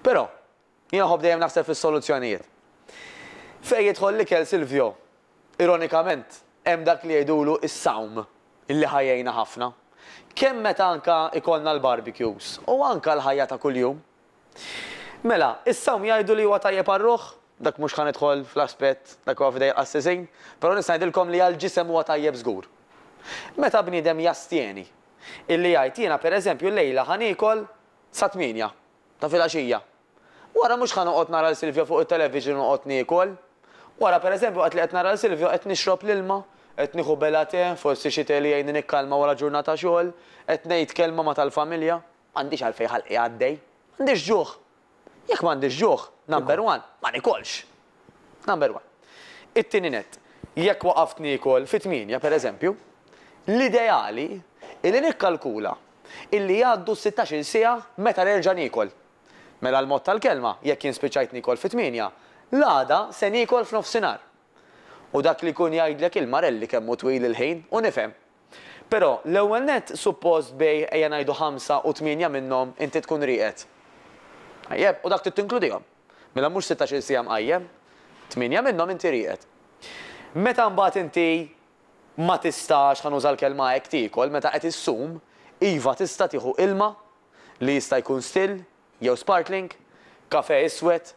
Però, jien nħobb dejjem naħseb fis-soluzzjonijiet. Fejn jidħol l-ikel Silvio, ironikament, hemm dak li jgħidulu s-sawm li ħa jgħinna ħafna, kemm meta anke jkollna l-barbecues u anke l-ħajja ta' kuljum. Mela, is-sawm jgħidu li huwa tajjeb għar-ruħ, dak mhux ħa nidħol fl-aspett, dak huwa f'idejn il-qassisin, però nista' ngħidilkom li għall-ġisem huwa tajjeb żgur. Meta bniedem jastjeni, illi jgħid jiena pereżempju llejla ħa niekol sa tmienja ta' filgħaxija. Wara mhux ħa noqgħod nara 'l Silvio fuq it-television u noqgħod niekol. Wara per eżempju waqt li qed nara 'l Silvio qed nixrob l-ilma, qed nieħu bela te, forsi xi te li jgħinni nikkalma wara ġurnata xogħol, qed ngħid kelma ma' tal-familja. M'għandix għalfejn ħalqi għaddej. M'għandix ġuħ. Jekk m'għandix ġuħ, number one, ma niekolx. Number one. It-tieni nett, jekk waqaft niekol fi tmienja per eżempju, l-ideali hi li nikkalkula illi jgħaddu s-sittax-il siegħa meta nerġa' niekol. Mela l-mod tal-kelma, jekk jien spiċċajt niekol fit-tmienja, l-għada se niekol f'nofsinhar. U dak li jkun jgħidlek il-Marelli kemm hu twil il-ħin u nifhem. Però, l-ewwel nett, suppost bejgħ ejja ngħidu ħamsa u tmienja minnhom inti tkun rieqed. Tajjeb, u dak trid tinkludihom. Mela mhux sittax-il siegħa mqajjem. Tmienja minnhom inti rieqed. Meta mbagħad inti ma tistax, ħa nuża l-kelma hekk, tiekol meta qed issum, iva tista' tieħu ilma li jista' jkun still jew sparkling, kafè iswed,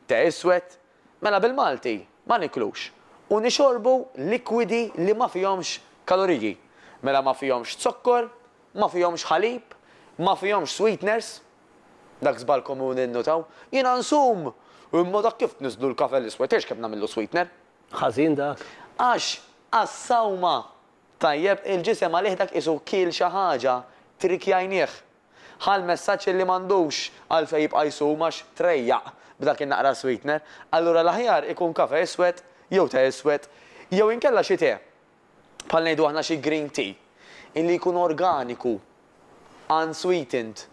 te iswed, mela bil-Malti ma niklux u nixorbu likwidi li ma fihomx kaloriji, mela ma fihomx zokkor, ma fihomx ħalib, ma fihomx sweeteners. Dak żball komuni nnutaw, jiena nsum imma dak kif tniżżlu l-kafè l-iswed tgħidx kemm nagħmillu sweetener. Ħażin dak? Għax għas-sawma. Tajjeb, il-ġisem għalih dak qisu kiel xi ħaġa, trikjajnieh. Ħa l-messaġġ illi m'għandux għalfejn jibqa' jsum għax trejjaq b'dak in-naqra sweetener. Allura l-aħjar ikun kafe iswed jew te iswed jew inkella xi te, bħal ngħidu aħna xi green tea, illi jkun organiku, unsweetened,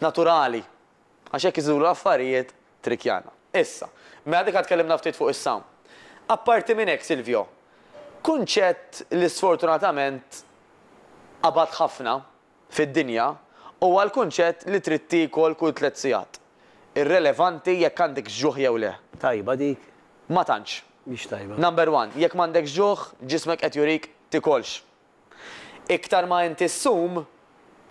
naturali. Għax hekk isiru l-affarijiet Trickjana. Issa, mela diġà tkellimna ftit fuq is-sawm. Apparti minn hekk, Silvio, kunċett li sfortunatament qabad ħafna fid-dinja huwa l-kunċett li trid tiekol kull tliet sigħat, irrelevanti jekk għandekx ġuħ jew le. Tajba dik? Ma tantx. Mhix tajba. Number one, jekk m'għandekx ġuħ, ġismek qed jurik tikolx. Iktar ma inti ssum,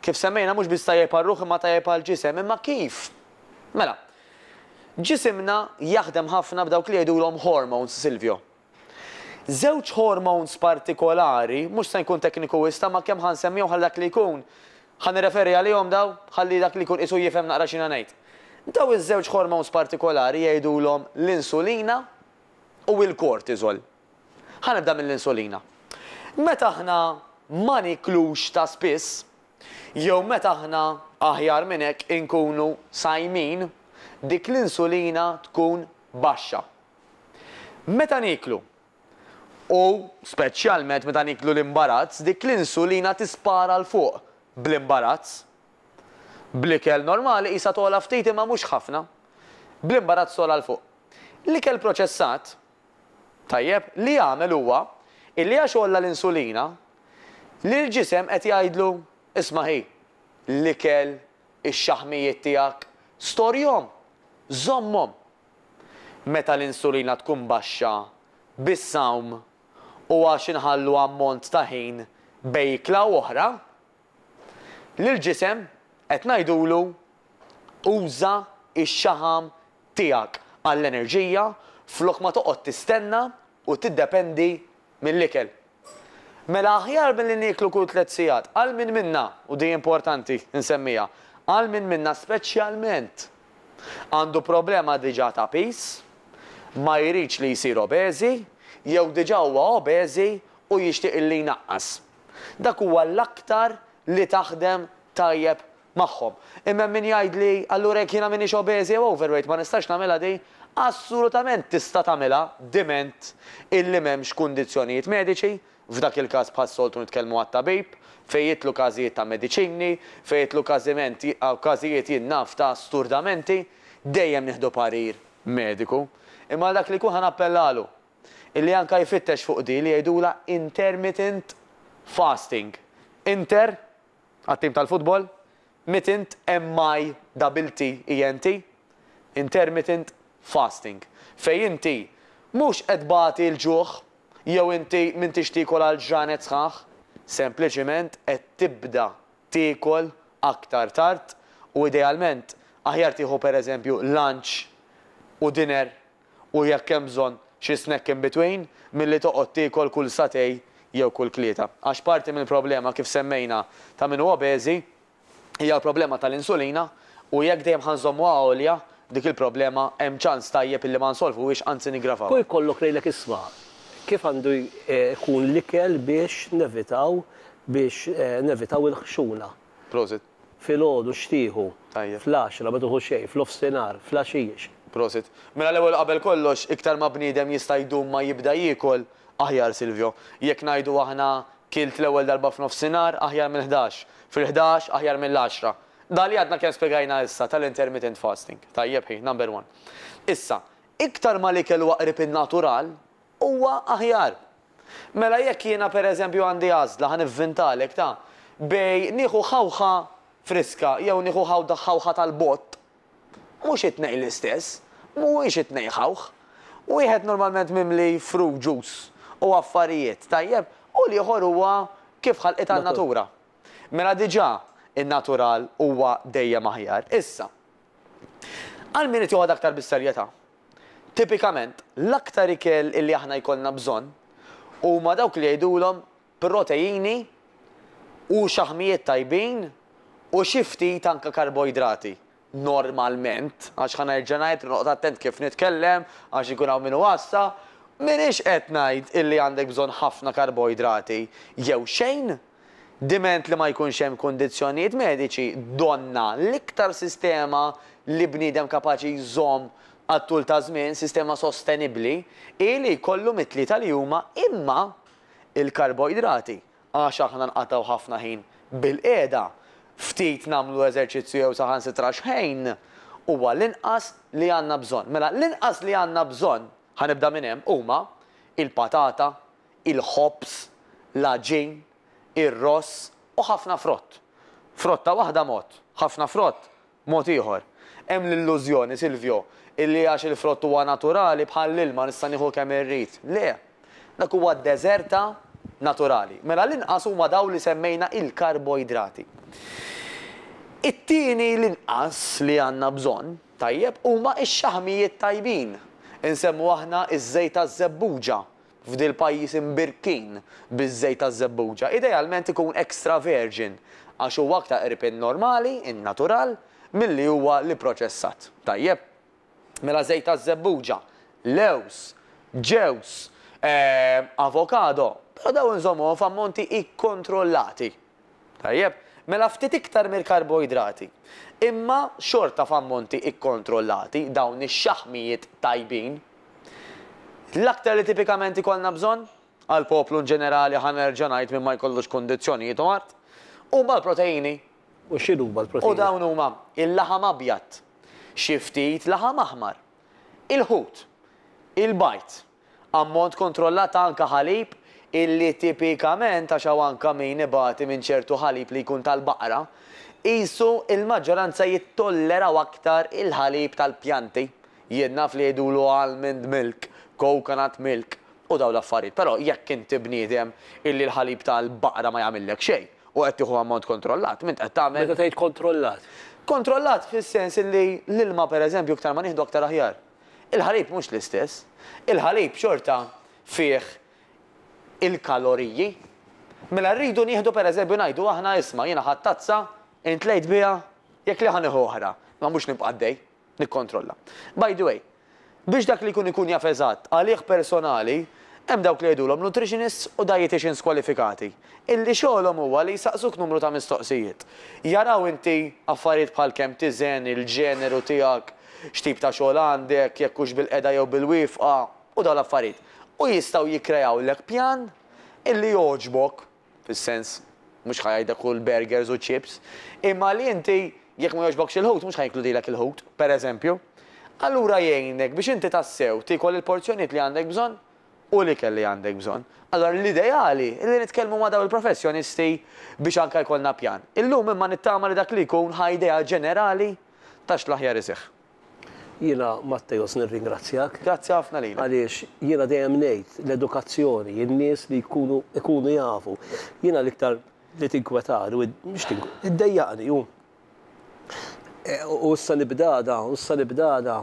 kif semmejna mhux biss tajjeb għar-ruħ imma tajjeb għall-ġisem. Imma kif? Mela, ġisimna jaħdem ħafna b'dawk li jgħidulhom hormones, Silvio. Żewġ hormones partikolari, mhux se nkun tekniku wisq imma kemm ħa nsemmihom ħalli dak li jkun, ħa nirreferi għalihom daw, ħalli dak li jkun qisu jifhem naqra x'jiena ngħid. Daw iż-żewġ hormones partikolari jgħidulhom l-insulina u l-cortisol. Ħa nibda mill-insulina. Meta aħna ma nieklux ta' spiss, jew meta aħna, aħjar minn hekk, inkunu sajmin, dik l-insulina tkun baxxa. Meta nieklu, u speċjalment meta nieklu l-imbarazz, dik l-insulina tispara 'l fuq bl-imbarazz. Bl-ikel normali qisha togħla ftit imma mhux ħafna. Bl-imbarazz togħla 'l fuq. L-ikel proċessat, Tajjeb, li għamel huwa illi għax għolla l-insulina, l-ġisem qed jgħidlu, isma' hi, l-ikel, ix-xaħmijiet tiegħek, storjhom, żommhom. Meta l-insulina tkun baxxa, bis-sawm, u għax inħallu ammont ta' ħin bejn ikla u oħra, Lill-ġisem qed ngħidulu uża x-xaħam tiegħek għall-enerġija flok ma toqgħod tistenna u tiddependi mill-ikel. Mela aħjar milli nieklu kull tliet sigħat, għal min minna, u di importanti nsemmiha, għal min minna speċjalment għandu problema diġà ta' piż, ma jridx li jsir obeżi jew diġà huwa obeżi u jixtieq li jnaqqas. Dak huwa l-aktar li taħdem tajjeb magħhom. Imma hemm min jgħidli, allura jekk jiena m'iniex obeżi jew overweight ma nistax nagħmilha din? Assolutament tista' tagħmilha diment illi m'hemmx kundizzjonijiet mediċi, f'dak il-każ bħas-soltu nitkellmu għat-tabib, fejn jidħlu każijiet ta' mediċini, fejn jidħlu każiment każijiet jien naf ta' sturdamenti, dejjem nieħdu parir mediku. Imma għal dak li jkun ħa nappellalu illi anke jfittex fuq di li jgħidulha intermittent fasting, inter, għat-tim tal-futbol, mittent, MITTENT, intermittent fasting, fejn inti mhux qed tbati l-ġuħ jew inti m'intix tiekol għal ġranet sħaħ, sempliċement qed tibda tiekol aktar tard u idealment aħjar tieħu pereżempju lunch u dinner u jekk hemm bżonn, xi snack in between, milli toqgħod tiekol kull satè jew kull tlieta. Għax parti mill-problema, kif semmejna, ta' min hu obeżi hija l-problema tal-insulina u jekk dejjem ħa nżommuha għolja, dik il-problema hemm ċans tajjeb illi ma nsolvuhiex anzi niggravawha. Jkollok lejlek isma' kif għandu jkun l-ikel biex nevitaw biex nevitaw il-ħxuna. Prosit. Filgħodu x'tieħu? Tajjeb. Fl-għaxra, ma tieħu xejn, f'nofsinhar, fl-għaxix. Prosit. Mela l-ewwel u qabel kollox, iktar ma bniedem jista' jdum ma jibda jiekol, aħjar Silvio. Jekk ngħidu aħna kilt l-ewwel darba f'nofsinhar, aħjar mill-ħdax. Fil-ħdax, aħjar mill-għaxra. Dak li għadna kemm spjegajna issa tal-intermittent fasting. Tajjeb hi, number one. Issa, iktar ma l-ikel huwa qrib in-natural, Huwa aħjar. Mela jekk jiena per eżempju għandi għażla, ħa nivvintalek, ta, bej nieħu ħawħa friska jew nieħu ħawda ħawħa tal-bott, mhux it-tnejn l-istess, mhuwiex it-tnejn ħawħ. Wieħed normalment mimli fruit juice u affarijiet, tajjeb, u l-ieħor huwa kif ħalqitha n-natura. Mela diġà in-natural huwa dejjem aħjar. Issa, għal min irid joħodha aktar bis-serjetà, Tipikament, l-aktar ikel li aħna jkollna bżonn huma dawk li jgħidulhom proteini u xaħmijiet tajbin u xi ftit anke karboidrati, normalment, għax ħa nerġa' ngħid li noqgħod attent kif nitkellem għax ikun hawn min iwassa, m'iniex qed ngħid illi għandek bżonn ħafna karboidrati jew xejn, Diment li ma jkunx hemm kundizzjonijiet mediċi, donnha, l-iktar sistema li bniedem kapaċi jżomm għat-tul ta' żmien, sistema sostenibbli, hi li jkollu mit-tlieta li huma imma l-karboidrati, għax aħna nqatgħu ħafna ħin bilqiegħda, ftit nagħmlu eżerċizzju jew saħansitra xħejn, huwa l-inqas li għandna bżonn. Mela l-inqas li għandna bżonn, ħa nibda minn hemm, huma, il-patata, il-ħobż, l-għaġin, ir-ross u ħafna frott. Frotta waħda mod, ħafna frott mod ieħor. Hemm l-illużjoni, Silvio, illi għax il-frott huwa naturali, bħall-ilma, nista' nieħu kemm irrid. Le! Dak huwa deżerta naturali. Mela l-inqas huma dawn li semmejna il-karboidrati. It-tieni l-inqas li għandna bżonn, tajjeb, huma x-xaħmijiet tajbin. Insemmu aħna ż-żejt taż-żebbuġa, f'dil pajjiż imbirkin biż-żejt taż-żebbuġa, idealment ikun extra virgin għax huwa aktar qrib in-normali, in-natural, milli huwa l-ipproċessat. Tajjeb. Mela żejt taż-żebbuġa, lewż, ġewż, ehm, avokado, però dawn inżommuhom f'ammonti ikkontrollati. Tajjeb, mela ftit iktar mill-karboidrati. Imma xorta f'ammonti ikkontrollati, dawn ix-xaħmijiet tajbin. L-aktar li tipikament ikollna bżonn, għall-poplu inġenerali ħa nerġa' ngħid min ma jkollux kundizzjonijiet u mard, huma l-proteini. U x'inhuma l-proteini? U dawn huma, il-laħam abjad, xi ftit laħam aħmar, il-ħut, il-bajd. Ammont kontrollat ta' anka ħalib illi tipikament għax hawn anka min ibati minn ċertu ħalib li jkun tal-baqra, qisu il-maġġoranza jittolleraw aktar il-ħalib tal-pjanti. Jien naf li jgħidulu almond milk, coconut milk u dawn l-affarijiet però jekk inti bniedem illi l-ħalib tal-baqra ma jagħmillek xejn u qed tieħu ammont kontrollat m'int qed tagħmel. Meta tgħid kontrollat? Kontrollat fis-sens illi l-ilma pereżempju iktar ma nieħdu aktar aħjar. Il-ħalib mhux l-istess. Il-ħalib xorta fih il-kaloriji. Mela rridu nieħdu pereżempju ngħidu aħna isma' jiena ħadt tazza, int tlejt biha, jekk le ħa nieħu oħra, ma mhux nibqa' għaddej nikkontrolla. By the way, biex dak li jkun ikun jaf eżatt għalih personali, hemm dawk li jgħidulhom nutritionists u dieticians kwalifikati. illi xogħolhom huwa li jsaqsuk numru ta' mistoqsijiet. Jaraw inti affarijiet bħal kemm tiżen, il-ġeneru tiegħek, x'tip ta' xogħol għandek, jekk hux bil-qegħda jew bil-wieqfa, u dawn l-affarijiet. U jistgħu jikkreawlek pjan illi jogħġbok, fis-sens, mhux ħa jgħidlek kul burgers u chips, imma li inti, jekk ma jogħġbokx il-ħut, mhux ħa jinkludilek il-ħut, pereżempju. Allura jgħinek biex inti tassew tiekol il-porzjonijiet li għandek bżonn. u l-ikel li għandek bżonn. Allura l-ideali hi li nitkellmu ma' dawn il-professjonisti biex anke jkollna pjan. Illum imma nittama li dak li jkun ħa idea ġenerali ta' x'l-aħjar iseħħ. Jiena Matteos nirringrazzjak. Grazzi ħafna lilek. Għaliex jiena dejjem ngħid l-edukazzjoni, in-nies li jkunu ikunu jafu. Jiena l-iktar li tinkwetani u mhux tink, iddejjaqni hu u issa nibdada, u issa nibdada.